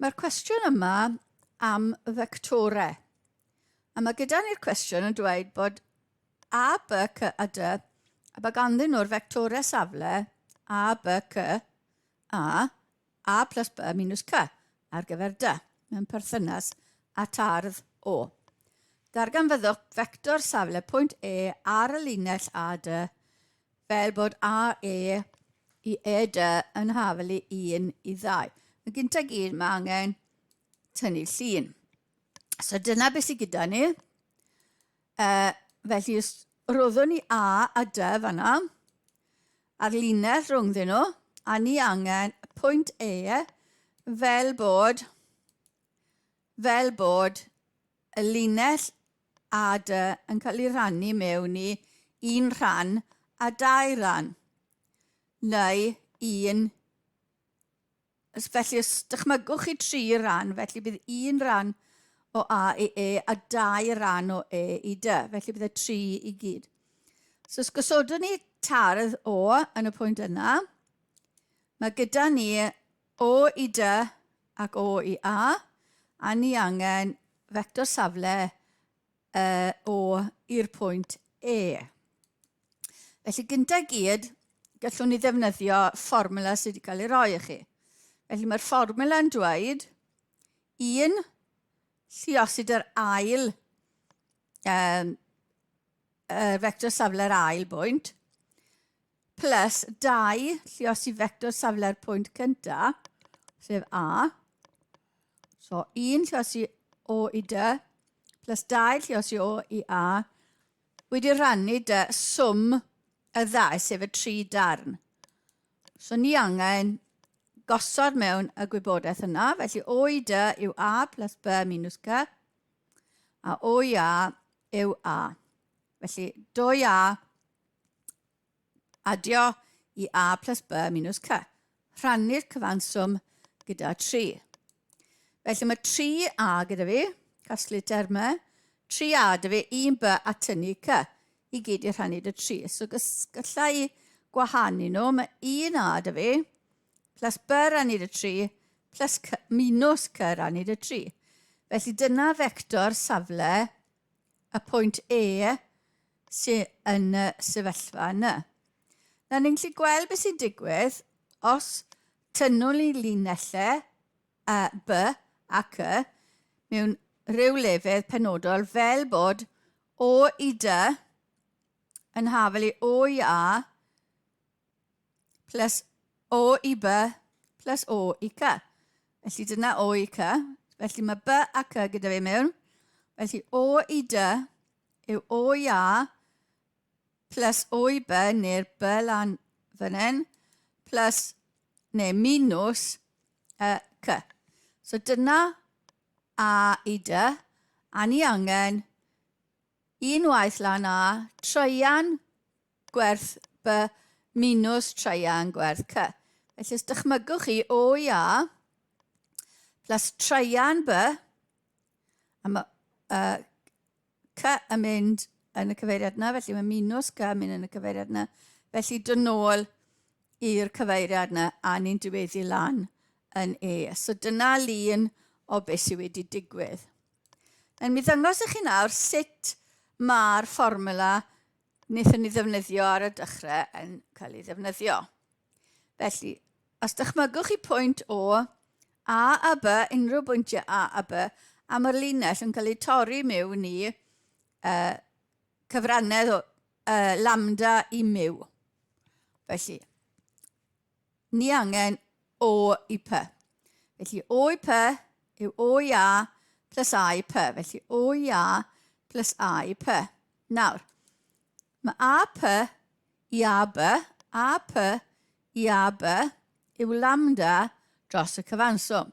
Mae'r cwestiwn yma am fectorau. A mae gyda ni'r cwestiwn yn dweud bod A, B, C a D, a bod ganddyn nhw'r fectorau safle A, B, C, A, A plus B minus C ar gyfer D mewn perthynas at ardd O. Darganfyddwch fector safle pwynt E ar y linell AD fel bod AE i ED yn hafelu 1 i 2. Yn gyntaf gyd mae angen tynnu llun. So dyna beth sydd gyda ni. Yy, felly os roddwn ni A a Dy fan'na, a'r linell rhwngddyn nhw, a ni angen pwynt E fel bod, fel bod y linell A Dy yn cael ei rhannu mewn i un rhan a dau ran, neu un Os felly, os dychmygwch chi tri ran, felly bydd un ran o A i E a dau ran o E i D. Felly bydd y tri i gyd. So os gosodwn ni tardd O yn y pwynt yna, mae gyda ni O i D ac O i A, a ni angen fector safle uh, o i'r pwynt E. Felly gyntaf gyd, gallwn ni ddefnyddio fformula sydd wedi cael ei roi i chi. Felly mae'r fformula yn dweud un lliosid yr ail um, uh, vector safle'r ail bwynt plus 2 lluos i fector safle'r pwynt cyntaf, sef A. So 1 lluos i O i D, plus 2 lluos i O i A, wedi rannu dy swm y ddau, sef y tri darn. So ni angen gosod mewn y gwybodaeth yna, felly O i D yw A plus B minus C, a O i A yw A. Felly 2A adio i a plus b minus c. Rhannu'r cyfanswm gyda 3. Felly mae 3a gyda fi, casglu termau, 3a dy fi, 1b a tynnu c. I gyd i rhannu dy 3. So gallai i gwahanu nhw, mae 1a dy fi, plus b rannu dy 3, plus c, minus c rannu dy 3. Felly dyna fector safle y pwynt E sydd yn y sefyllfa yna. Na ni'n gallu gweld beth sy'n digwydd os tynnwn ni linellau y B ac Y mewn rhyw lefydd penodol fel bod O i D yn hafel i O i A plus o i b plus o i c. Felly dyna o i c. Felly mae b a c gyda fi mewn. Felly o i d yw o i a plus o i b neu'r b lan fan hyn plus neu minus y c. So dyna a i d a ni angen unwaith lan a treian gwerth B minws traean gwerth C. Felly os dychmygwch chi OIA plus traean B, a mae uh, C yn mynd yn y cyfeiriad yna, felly mae minus C yn mynd yn y cyfeiriad yna. Felly dyn nôl i'r cyfeiriad yna a ni'n diweddu lan yn E. So dyna lun o beth sydd wedi digwydd. Yn mi ddangos i chi nawr sut mae'r fformula wnaethon ni ddefnyddio ar y dechrau yn cael ei ddefnyddio. Felly, os dychmygwch chi pwynt O A a B, unrhyw bwyntiau A a B, a mae'r linell yn cael ei torri mewn i uh, cyfrannedd o uh, lambda i miw. Felly, ni angen o i py. Felly o i py yw o i a plus a i py. Felly o i a plus a i py. Nawr, mae a py i a by, a py i a by yw lambda dros y cyfanswm.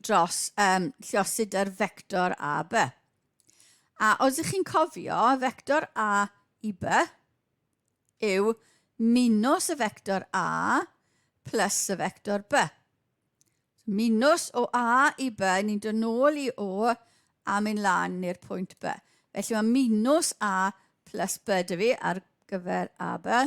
dros um, lluosudr fector a by. A os ych chi'n cofio, fector a i by yw minus y fector a plus y fector by. Minus o a i by, ni'n dod nôl i o a mynd lan i'r pwynt by. Felly mae minus a plus by dy fi ar gyfer a by.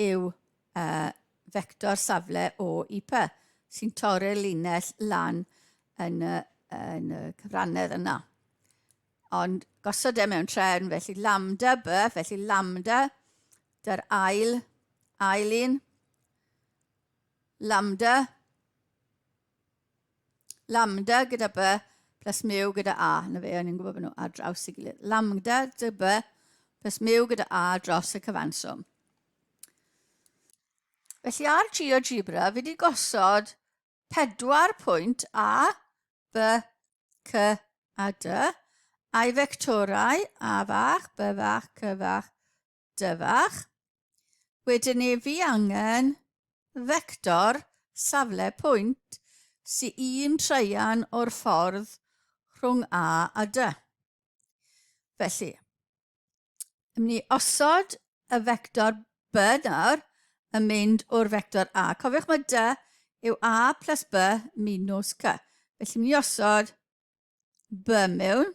yw y fector safle o IP sy'n torri'r linell lan yn y, yn y cyfrannedd yna. Ond gosod e mewn trefn, felly lambda by, felly lambda, dy'r ail, ail un, lambda, Lambda gyda by plus mu gyda a. Na fe, o'n i'n gwybod bod nhw ar draws i gilydd. Lambda dy by plus mu gyda a dros y cyfanswm. Felly ar GeoGebra, fi wedi gosod pedwar pwynt A, B, C a D, a'i fectorau A fach, B fach, C fach, Dyfach. Wedyn ni fi angen fector safle pwynt sy un traean o'r ffordd rhwng A a D. Felly, ym ni osod y fector B nawr yn mynd o'r fector A. Cofiwch mae D yw A plus B minus C. Felly, ym ni osod B mewn.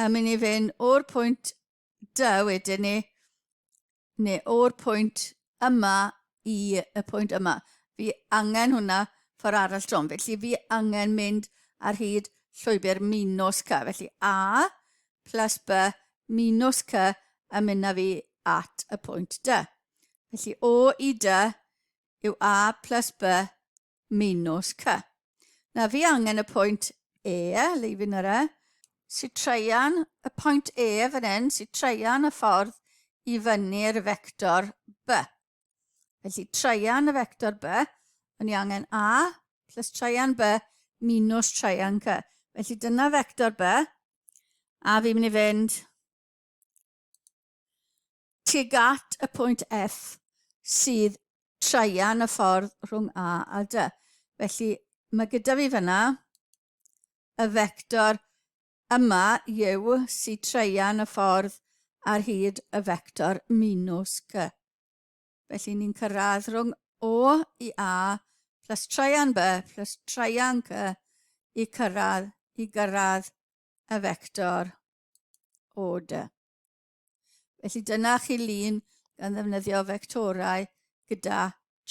A mynd i fynd o'r pwynt dy wedyn ni, neu o'r pwynt yma i y pwynt yma. Fi angen hwnna ffordd arall trom. Felly fi angen mynd ar hyd llwybr minus cy. Felly A plus B minus cy yn mynd â fi at y pwynt dy. Felly O i dy yw A plus B Minos Cy. Na fi angen y pwynt E, leifin yr E. Si traean y pwynt E fan hyn, si traean y ffordd i fyny'r fector B. Felly traean y fector B, o'n i angen A plus traean B minus traean C. Felly dyna fector B, a fi'n mynd i fynd Tuag at y pwynt F sydd traean y ffordd rhwng A a D. Felly mae gyda fi fyna y fector yma yw sydd traean y ffordd ar hyd y fector minus C. Felly ni'n cyrraedd rhwng O i A plus traean B plus traean C i cyrraedd i gyrraedd y fector O D. Felly dyna chi lun gan ddefnyddio fectorau gyda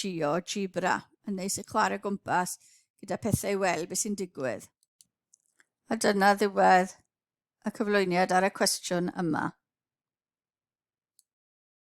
GeoGebra. Yn neis i chwarae gwmpas gyda pethau i weld beth sy'n digwydd. A dyna ddiwedd y cyflwyniad ar y cwestiwn yma.